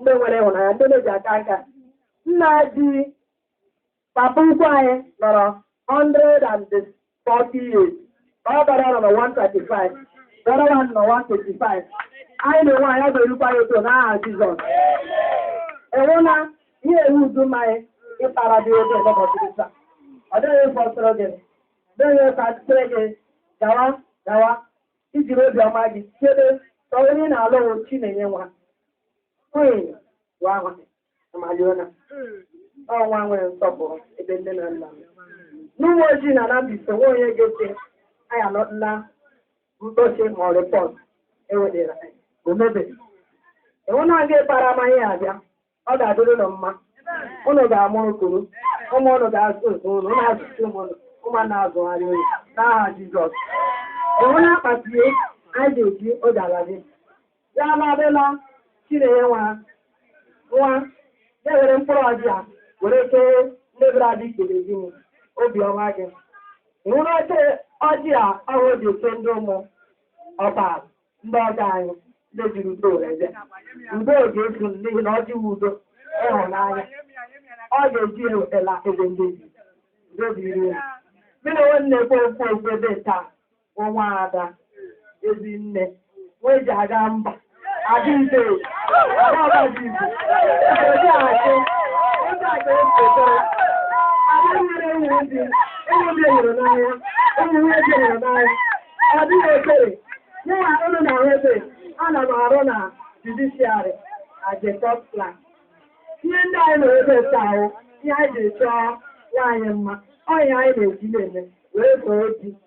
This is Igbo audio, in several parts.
ndị nwere ịhụnanya ndị na-eji aka nka nna di papa ukwu anyị nọrọ 140 years ọ bara nọ na 135 bara nọ na 125 anyị na-enwe anya ọ ga-erukwa ya otu n'aha Jizọs enwela ihe ewu udu mmanya ịkpara dị oge n'ụbọchị taa ọ dịghị ịfọ sọrọ gị dịghị ịfọ atụtụrụ gị gawa gawa i jiri obiọma gị chebe ka onye na-alụ Chinenye nwa ọ nwa nwere nsọpụrụ ebe nne na nna n'Ụmụoji na Anambra State nwa onye ga-ete anya na mkpọchi ma ọ rịpọt ewedịra omebe enwe na-aga ịkpara amaghị ya abịa ọ ga-adịrị ụnụ mma ụnụ ga-amụrụ kuru ụmụ ụnụ ga-azụ ụmụ ụnụ ụnụ azụchaa ụmụ ụnụ ụmụ ụnụ azụgharịa ụnụ n'aha Jizọs e nwere akpati anyị ga-eji oge ala di ya aladịla chinenye nwa nwa ya were mkpụrụ ọjị a were kee ndị bịara dị ikele gị obiọma gị nwụrụ oche ọjị a ọhụụ dị oke ndị ụmụ ọba ndị ọgọ anyị ndị jiri udo were bịa udo ga-efu n'ihi na ọjị wu udo na ịhụnanya ọ ga-eji ewetala ebe ndị ji udo dịrị unu. Mụ nwa na-ekwu okwu ebe taa bụ nwaada Ezinne nwa e ji aga mba Adaeze Adaọbadibo Obi Achị Obi Achị Esote Ada nwere ụmụ ndị ụmụnne di hụrụ n'anya ụmụ nwunye di hụrụ n'anya ọ dịghị ekere mụnwa unu na nwete ana m arụ na judiciary ajetọt plan ihe ndị anyị na-ebe ete ahụ ihe anyị ji chọọ nwaanyị mma ọ ihe anyị na-eji na-eme wee soo di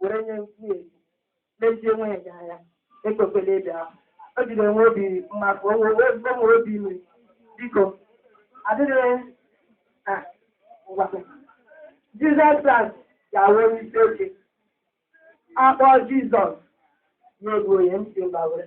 were nye nwunye gị lezie nwunye gị anya ekwekwela ebe ahụ o jiri enwe obi mmadụ onwe onwe obi ime biko adịghị a ngwa jizọs kraịst ga-awụ onye isi oche a kpọọ jizọs na-egbu onye ntị mba were